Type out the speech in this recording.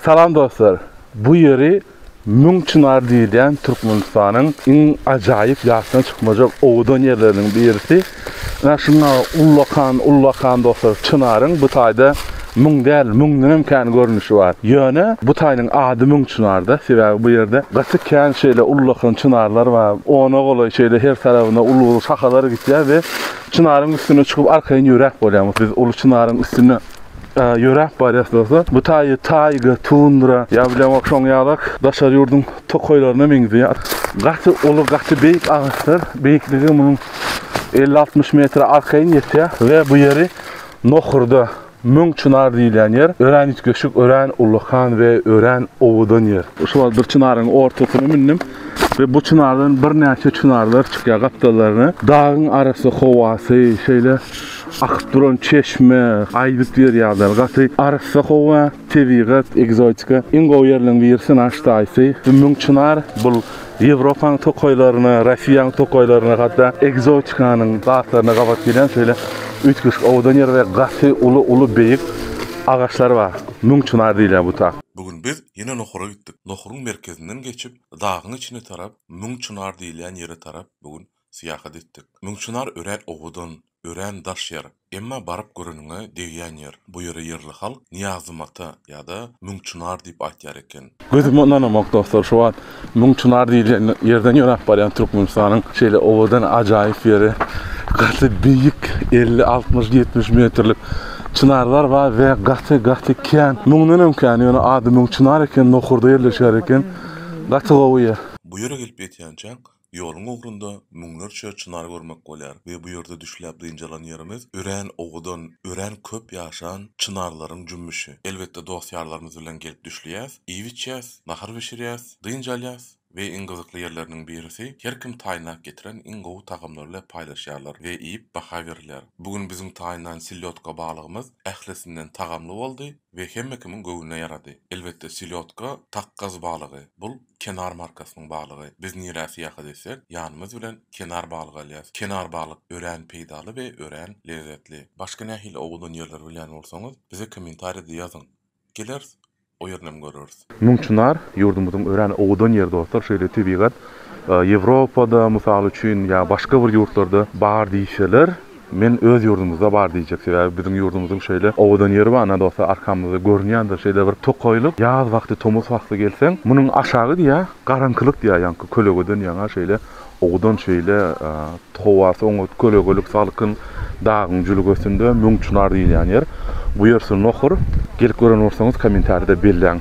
Salam dostlar! Bu ýeri Müň çynar diýilýän Türkmenistanyň iň ajaýyp ýatdan çykmajak owadan ýerleriniň birisi. Ynha şunda ullakan, ullakan dostlar çynaryň bu taýda müň däl, müňdenem kän görnüşi bar. Ýöne bu taýynyň ady Müň çynarda, sebäbi bu ýerde gaty kän şeýle ullakan çynarlar bar. Ona golaý şeýle her tarabyna uly-uly şahalary gitýär we çynaryň üstüne çykyp arkaýyn ýöräp bolýar. Biz uly çynaryň üstünde. ýöräp barýas bolsa, bu taýy taýga, tundra, ýa bilen şoň ýalak daşary ýurduň tokaýlaryna meňzeýär. Gaty uly, gaty beýik agaçlar, beýikligi munuň elli-altmyş metre arkaýyn ýetýär we bu ýeri Nohurda, Müň çynar diýilýän ýer, örän üýtgeşik, örän ullakan we örän owadan ýer. Şu wagt bir çynaryň ortasyna mündüm we bu çynardan birnäçe çynarlar çykýar gapdallaryna. Dagyň arasy, howasy şeýle Akyp duran çeşme, aýdyp berýärler. Gaty arassa howa, tebigat, ekzotika. Iň gowy ýerleriň birisi naş daýysy. Ümmüň çynar bul Ýewropanyň tokaýlaryna, Rossiýanyň tokaýlaryna hatda ekzotikanyň zatlaryna gabat gelýän şeýle üýtgeşik owadan ýer we gaty uly-uly beýik agaçlar bar. Müň çynar diýilýär bu ta. Bu gün biz ýene Nohura gitdik. Nohuryň merkezinden geçip, dagyň içine tarap, Müň çynar diýilýän ýere tarap bu gün syýahat etdik. Müňçynar örän owadan, örän daş ýer. Emma baryp göreniňe degýän ýer. Bu ýere ýerli halk Nyýazymata ýa-da Müňçynar diýip aýtýar eken. Gözüme ynanamok dostlar, şu wagt Müňçynar diýilýän ýerden ýöräp barýan Türkmenistanyň şeýle owadan ajaýyp ýeri. Gaty beýik elli, altmyş, ýetmiş metrlik çynarlar bar we gaty, gaty kän. Müňdenem kän, ýöne ady Müňçynar eken, Nohurda ýerleşýär eken. Gaty gowy ýer. Bu ýere gelip ýetýänçäň Ýoluň ugrunda müňlerçe çynar görmek bolýar we bu ýerde düşläp dynç alan ýerimiz örän owadan, örän köp ýaşan çynarlaryň jümmüşi. Elbetde dost-ýarlarymyz bilen gelip düşleýäs, iýip-içýäs, nahar bişirýäs, dynç alýas we iň gyzykly ýerleriniň birisi, her kim taýynlap getiren iň gowy tagamlary bilen paýlaşýarlar we iýip baha berilýär. Bu gün biziň taýynlan selýotka balygymyz ählisinden tagamly boldy we hemme kimiň göwnüne ýarady. Elbetde selýotka takgaz balygy, bul. Kenar markasynyň balygy. Biz nirä syýahat etsek, ýanymyz bilen Kenar balygy alýas. Kenar balyk örän peýdaly we örän lezzetli. Başga nähili owadan ýerleri bilýän bolsaňyz, bize kommentariýada ýazyň. Geleris, o ýerinem göreris. Müňçynar, ýurdumyzyň örän owadan ýeri dostlar, şeýle tebigat Ýewropada mysal üçin ýa başga bir ýurtlarda bar diýseler, Men öz ýurdumyzda bar diýjek sebäbi biziň ýurdumyzyň şeýle owadan ýeri bar nadolsa arkamyzda görünýändir şeýle bir tokaýlyk ýaz wagty tomus wagty gelseň munuň aşagy diýä garaňkylyk diýä ýaňky kölegeden ýaňa şeýle owadan şeýle howasy oňat kölegelik salkyn dagyň jülgesinde müň çynar diýilýän ýer bu ýer syn nohur gelip gören bolsaňyz kommentarida belläň.